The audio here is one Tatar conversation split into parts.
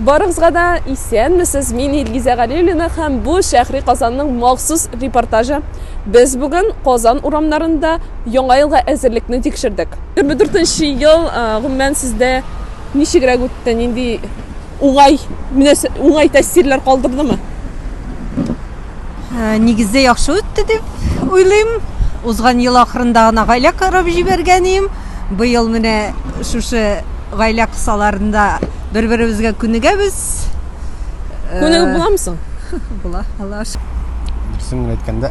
Барыгызга да исәнмесез. Мин Илгизә Галиуллина һәм бу Шәһри Казанның махсус репортажы. Без бүген Казан урамнарында яңа елга әзерлекне тикшердек. 24 ел гомумән сездә ничегрәк үтте? Нинди уңай, уңай тәэсирләр калдырдымы? Нигездә яхшы үтте дип уйлыйм. Узган ел ахырында гына гаилә корып җибәргән идем. Быел менә шушы гаилә кысаларында бер-беребезгә күнегәбез. Күнегеп буламы соң? Була, Аллага шөкер. Дөресен генә әйткәндә,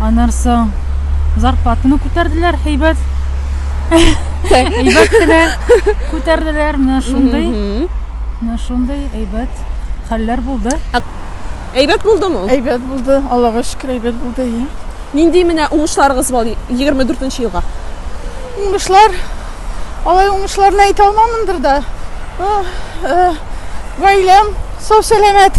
Аннан соң зарплатаны күтәрделәр, һәйбәт. Әйбәт кенә күтәрделәр, менә шундый. Менә шундый әйбәт хәлләр булды. Әйбәт булдымы? Әйбәт булды, Аллага шөкер, әйбәт булды. Нинди менә уңышларыгыз бар 24 елга? Уңышлар, алай уңышларны әйтә алмамындыр да. Гаиләм сау-сәламәт.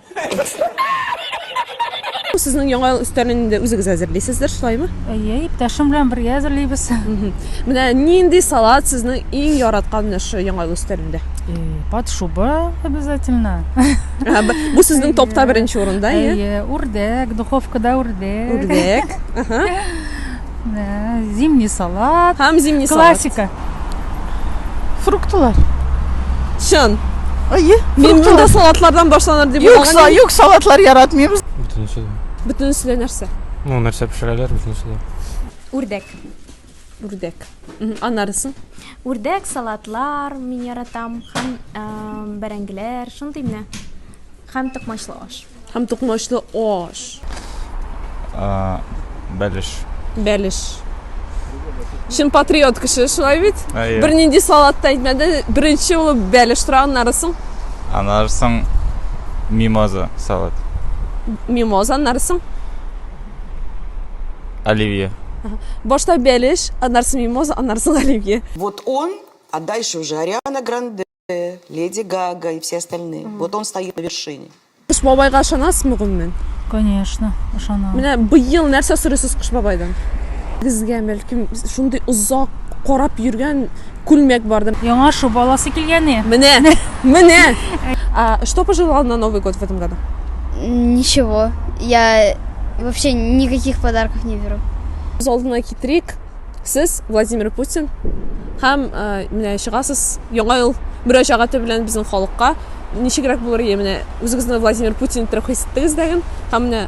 Сезнең яңа ел өстәлен инде үзегез әзерлисездер, шулаймы? Әйе, иптәшем белән бергә әзерлибез. Менә нинди салат сезнең иң яраткан менә шул яңа ел өстәлендә? Э, Под шуба обязательно. Ә, б- Бу сезнең топта беренче урында, әйе? Әйе, үрдәк, духовкада үрдәк. Үрдәк. Ага. Зимний салат. Һәм зимний салат. Классика. Фруктлар. Чын. Әйе. Мин монда салатлардан башланыр дип Юк, уйлаган. юк, салатлар яратмыйм. Бөтенесе дә. Бөтенесе дә нәрсә? Ну, нәрсә пешерәләр, бөтенесе дә. Үрдәк. Үрдәк. Анарысын. Үрдәк, салатлар мин яратам һәм бәрәңгеләр, шундый менә. Һәм токмачлы аш. Һәм токмачлы аш. Э, бәлеш. Бәлеш. Чын патриот кеше, шулай бит? Әйе. Бер нинди салат та әйтмәде. Беренче ул бәлеш тора, аннары соң Аннары соң мимоза салат. мимоза, аннары соң. Оливье. Башта бәлеш, аннары соң мимоза, аннары соң оливье. Вот он, а дальше уже Ариана Гранде. Леди Гага и все остальные. Mm. Вот он стоит на вершине. Кыш бабайга ышанасызмы гомумән? Конечно, ышанам. Менә быел нәрсә сорыйсыз Кыш бабайдан? Безгә бәлкем шундый озак карап йөргән күлмәк барды. Яңа шуб аласы килгәне. Менә, менә. А что пожелал на Новый год в этом году? Ничего. Я вообще никаких подарков не беру. Үз алдына китерик. Сез Владимир Путин һәм менә чыгасыз яңа ел мөрәҗәгате белән безнең халыкка ничегрәк булыр ие менә үзегезне Владимир Путин иттереп хис иттегез дәген һәм менә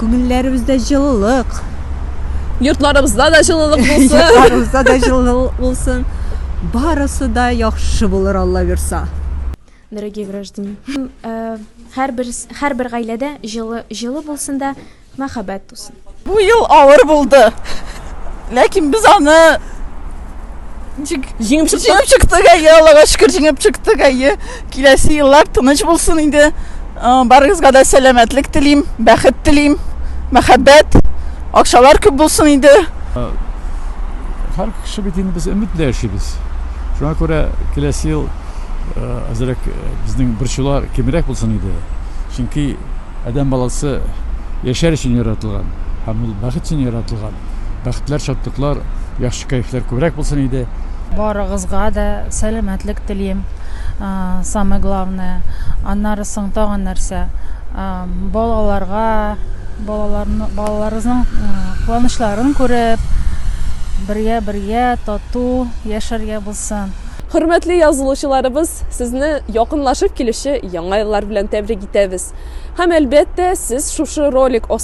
Күңелләребездә җылылык. Йортларыбызда да җылылык булсын. Йортларыбызда да җылылык булсын. Барысы да яхшы булыр, Алла бирса. Дорогие граждане, һәрбер һәрбер гаиләдә җылы җылы булсын да мәхәббәт тусын. Бу ел авыр булды, ләкин без аны. Ничек? Җиңеп чыктык. Җиңеп чыктык, әйе, Аллага шөкер, җиңеп чыктык, әйе. Киләсе еллар тыныч булсын инде. Барыгызга да сәламәтлек телим, бәхет телим, мәхәббәт, акчалар күп булсын инде. Һәр кеше бит инде без өмет белән яшибез. Шуңа күрә киләсе ел әзрәк безнең борчулар кимрәк булсын иде. Чөнки адәм баласы яшәр өчен яратылган һәм ул бәхет өчен яратылган. Бәхетләр, шатлыклар, яхшы кәефләр күбрәк булсын иде. Барыгызга да сәламәтлек телим. Самое главное. Аннары соң тагын нәрсә? Балаларга, балаларны, балаларыгызның куанычларын күреп, бергә бергә тату яшәргә булсын. Хөрмәтле язылучыларыбыз, сезне якынлашып килүче Яңа еллар белән тәбрик итәбез. Һәм әлбәттә, сез шушы ролик